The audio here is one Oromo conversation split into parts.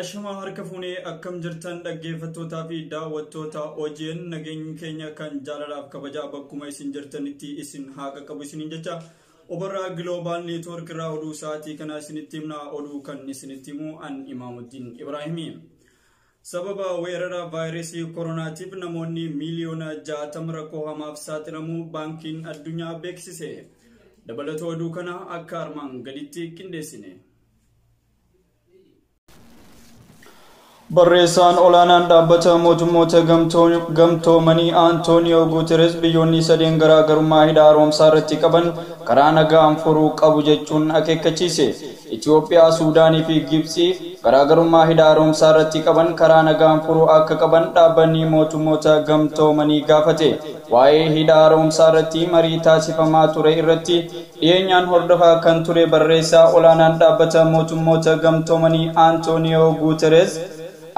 Ashamaa harka fuunee akkam jirtan dhaggeeffattootaa fi daawwattoota OGN nageenyi keenya kan jaalalaaf kabajaa bakkuma isin jirtanitti isin haa qaqqabu isiniin jecha obarraa giloobaal neetwoork irraa oduu sa'aatii kanaa isinitti himna oduu kan isinitti himu an imaamuddin ibraahimii. Sababa weerara vaayirasii koronaatiif namoonni miiliyoona 60 rakkoo hamaaf saaxilamuu baankiin addunyaa beeksise. Dabalata oduu kana akka armaan gaditti qindeessine. Barreessaan olaanaan dhaabbata mootummoota gamtoomanii Antooniyoo Guuteres biyyoonni sadeen garaagarummaa hidha haaromsaa irratti qaban karaa nagaan furuu qabu jechuun akeekkachiise. Itoophiyaa, Suudaanii fi Gibtsi garaagarummaa hidha haaromsaa irratti qaban karaa nagaan furuu akka qaban dhaabbanni mootummoota gamtoomanii gaafate. Waa'ee hidha haaromsaa irratti marii taasifamaa ture irratti Dhiyeenyaan hordofaa kan ture barreessaa olaanaan dhaabbata mootummoota gamtoomanii Antooniyoo Guutereez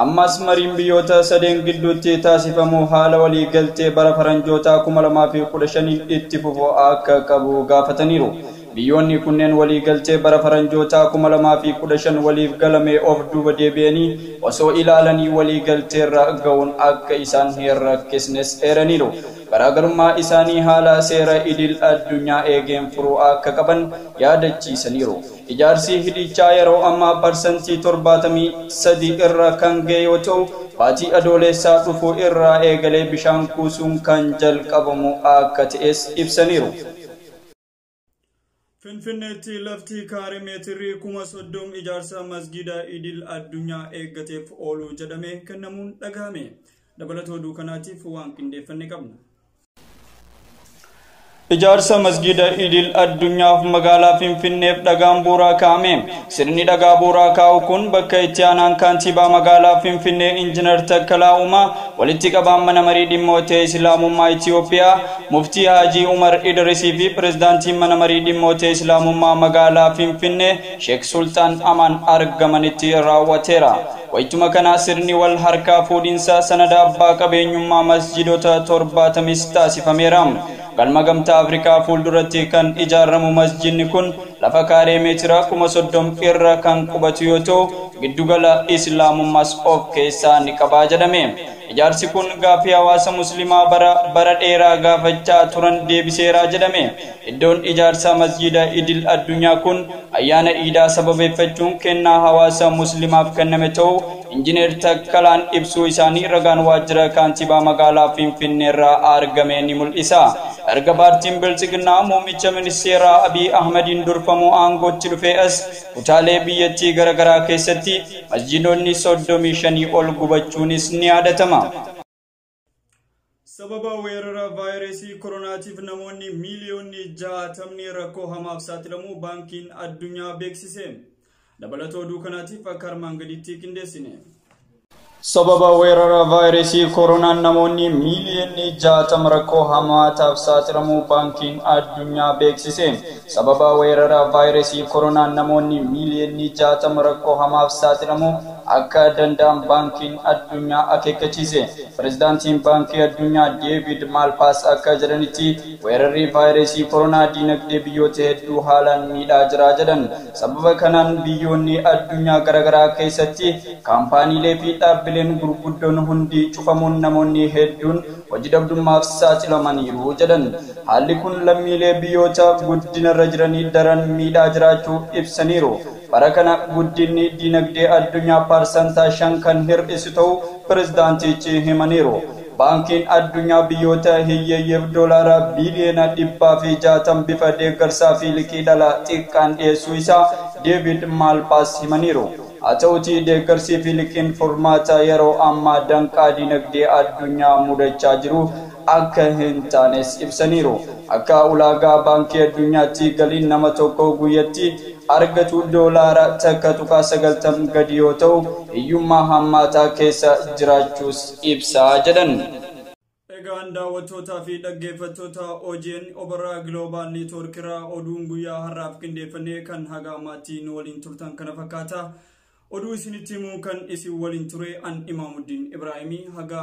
ammaas mariin biyyoota sadeen gidduutti taasifamu haala walii galtee bara faranjootaa 2015n itti fufu akka qabu gaafataniiru. Biyyoonni kunneen walii galtee bara faranjootaa 2015 waliif galame of duuba deebi'anii osoo ilaalanii walii galteerra ga'uun akka isaan hin rakkisnes eeraniiru. garaagarummaa isaanii haala seera idil addunyaa eegeen furuu akka qaban yaadachiisaniiru. Ijaarsi hidhiichaa yeroo ammaa parsantii 73 irra kan ga'e yoo ta'u, baatii Adooleessaa dhufu irraa eegalee bishaan kuusuun kan jalqabamu akka ta'es ibsaniiru. Finfinneetti lafti kaare meetirri kuma soddom ijaarsa masgiida idil addunyaa eeggateef oolu jedhamee kennamuun dhagahame. Dabalata oduu kanaatiif waan qindeeffanne qabna. Ijaarsa masgiida idil addunyaaf magaalaa Finfinneef dhagaan bu'uuraa kaa'ame. Sirni dhagaa bu'uuraa kaa'uu kun bakka itti aanaan kaantiibaa magaalaa Finfinnee Injinar Takkalaa Uumaa, walitti qabaan mana marii dhimmoota Islaamummaa Itiyoophiyaa Muftii Haajii Umar Idirisii fi pirezidaantiin mana marii dhimmoota Islaamummaa magaalaa Finfinnee Sheek Sulxaan Amaan argamanitti raawwateera. Wayituma kana sirni wal harkaa fuudhinsa sanada abbaa qabeenyummaa masjiidota torbaatamis taasifameera. Galma Gamtaa Afrikaa fuulduratti kan ijaaramu masjiidni kun Lafa kaaree meetira kuma soddom irra kan qubatu yoo ta'u, giddugala Islaamummaas of keessaa ni qaba jedhame. Ijaarsi kun gaaffii hawaasa Muslimaa bara bara dheeraa gaafachaa turan deebiseera jedhame. Iddoon ijaarsa Masjiida Idil Addunyaa kun ayyaana Iidaa sababeeffachuun kennaa hawaasa Muslimaaf kenname ta'uu Injineer Takkalaan ibsuu isaanii ragaan waajjira Kaantibaa magaalaa Finfinneerraa argame ni mul'isa. Erga paartiin Biltsiginnaa muummicha ministeeraa Abiy Ahmadiin durfamu aangootti dhufee as kutaalee biyyattii garaagaraa keessatti masjiidonni 35 ol gubachuunis ni yaadatama. Sababa weerara vaayirasii koronaatiif namoonni miiliyoonni jaatamni rakkoo hamaaf saaxilamuu baankiin addunyaa beeksise. Dabalatoo oduu kanaatiif akka armaan gadiitti qindeessine. Sababa weerara vaayirasii koronaan namoonni miiliyoonni jaatama rakkoo hamaataaf saaxilamuu baankiin addunyaa beeksise. Sababa weerara vaayirasii koronaan namoonni miiliyoonni jaatama rakkoo hamaaf saaxilamuu akka danda'an Baankiin Addunyaa akeekkachiise. Pirezidaantiin Baankii Addunyaa Deeviid Maalpaas akka jedhanitti, weerarri vaayiresii koronaa diinagdee biyyoota hedduu haalaan miidhaa jira jedhan. Sababa kanaan biyyoonni addunyaa garagaraa keessatti kaampaaniilee fi dhaabbileen gurguddoon hundi cufamuun namoonni hedduun hoji dhabdummaaf saaxilamaniiru jedhan. Haalli kun lammiilee biyyoota guddinarra jiranii daran miidhaa jiraachuu ibsaniiru. Bara kana guddinni dinagdee addunyaa parsantaa 5 kan hir'isu ta'uu pirezidaantichi himaniiru. Baankiin Addunyaa biyyoota hiyyeeyyiif doolaara biiliyoona 160 bifa deeggarsaa fi liqii dhala xiqqaan dhiyeessuu isaa Deeviid Maalpaas himaniiru. Haa ta'uutii deeggarsii fi liqiin furmaata yeroo ammaa danqaa dinagdee addunyaa mudachaa jiru akka hin taanes ibsaniiru. Akka ulaagaa Baankii Addunyaatti galiin nama tokko guyyatti argatu doolaara 1.90 gadi yoo ta'u, hiyyummaa hammaataa keessa jiraachuus ibsa jedhan. Egaan daawwattootaa fi dhaggeeffattoota OGN Obarraa Global Network irraa oduun guyyaa har'aaf qindeeffannee kan haga ammaatti nu waliin turtan kana fakkaata. Oduu isinitti himuun kan isin waliin ture an Imaamuddin Ibraahimii haga